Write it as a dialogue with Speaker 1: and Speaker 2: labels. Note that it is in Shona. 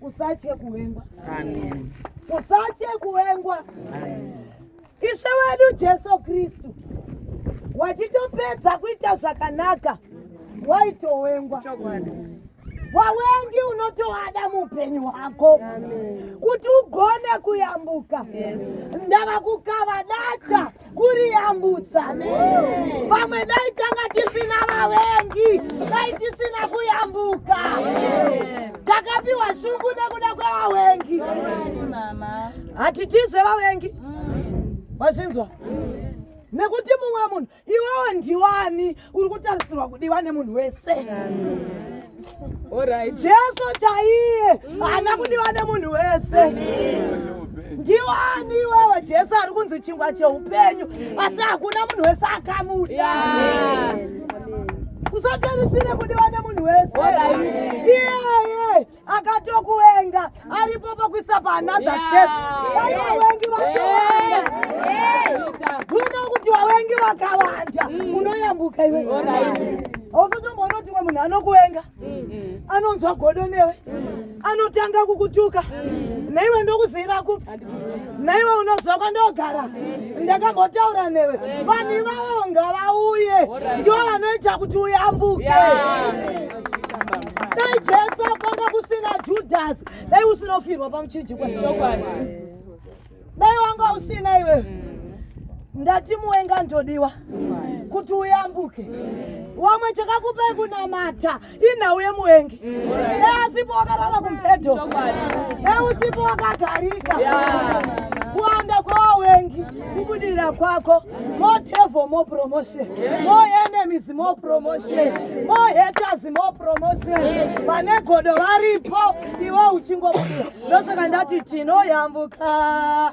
Speaker 1: Usatye kuwengwa. Amen.
Speaker 2: Usatye
Speaker 1: kuwengwa. Amen. Ishe wedu Jesu Kristu wachitopedza kuita zvakanaka waitowengwa. Wawengi unotoada muupenyu hwako kuti ugone kuyambuka. Ndava kukava data kuriyambutsa vamwe dai tanga tisina vavengi dai tisina kuyambuka takapiwa shungu nekuda kwevavengi hatitize vavengi mazvinzwa nekuti mumwe munhu iwewo ndiwani uri kutarisirwa kudiwa nemunhu wese jesu chaiye haana kudiwa nemunhu wese ndiwani iwewe jesu ari kunzi chingwa cheupenyu asi hakuna munhu wese akamuda usaterisire kudiwa nemunhu wese iyeye akatokuwenga aripo pakuisa paanother step vanawengi vakawanda unoda kuti wawengi vakawanda mm. unoyambuka iwe auzotomboonoti umwe munhu anokuwenga mm-hmm. anonzwa godo newe mm. anotanga kukutuka mm. neiwe ndokuzivira kupi naiwe unoziva kwandogara ndakambotaura newe vanhu ivavo ngavauye ndivo vanoita kuti uyambuke dai jesu akanga kusina judhasi dai usinofirwa pamuchinjikwa dai wanga usina iwe ndati muwenga ndodiwa kuti uyambuke wamwe chakakupai kunamata inhau yemuvengi easipo wakarara kumubhedho eusipo wakagarika kuwanda kwewawengi kubudira kwako mo devil mo promotion mo enemies mo promotion mo haters mo promotion vane godo varipo iwe uchingobudira ndosaka ndati tinoyambuka